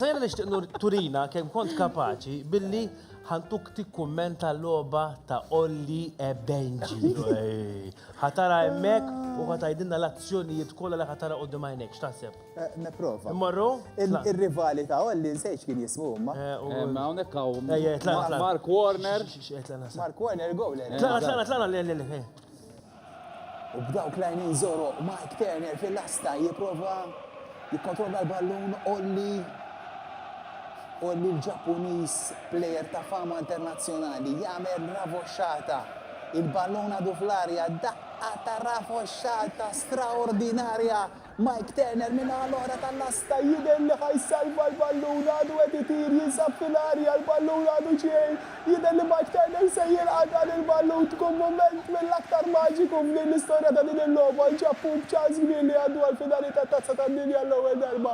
Diana nixtieq nur turina kemm kont kapaċi billi ħantuk tikkummenta logħba ta' Olli e Benji. Ħatara hemmhekk u ħatajdilna l-azzjonijiet kollha li ħatara quddiem għajnejk. X'taħseb? Nipprova. Immorru? Ir-rivali ta' Olli nsejt x'kien jismu huma. Hawnhekk hawn Mark Warner. Mark Warner goaler. Tlaqna, tlaqna, tlaqna. U b'dawk l-għajnejn zoro Mike Turner fil-lasta jipprova jikkontrolla l-ballun Olli Olli l-Ġappuniż plejer ta' fama internazzjonali jagħmel ravoxxata il-ballun għadu fl-arja daqqa ta' ravoxxata straordinarja Mike Turner min-naħa l-oħra tal-lasta jidher li ħa jsalva l-ballun, għadu qed itir, jinsab fil-arja, l-ballun għadu xejn, jidher li Mike Turner se jilqa' dan il-ballun, tkun mument mill-aktar maġiku f'din l-istorja ta' din il-logħba, nċappuk ċans kbir li jgħaddu għall-finali tat-Tazza tad-Dinja għall-ewwel darba.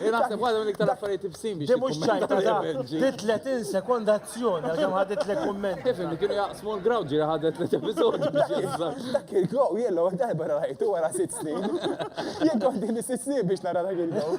Jien naħseb waħda minn iktar affarijiet ibsin biex. Di mhux ċajta da, di 30 sekonda azzjoni għax hemm ħadet lek kumment. Kif li kienu jaqsmu l-ground ġieli ħadet tliet episodji biex jinsa. Dak il-glow jien l-ewwel darba rajtu wara sitt snin. Jien kont din is-sitt snin biex nara dak il-glow.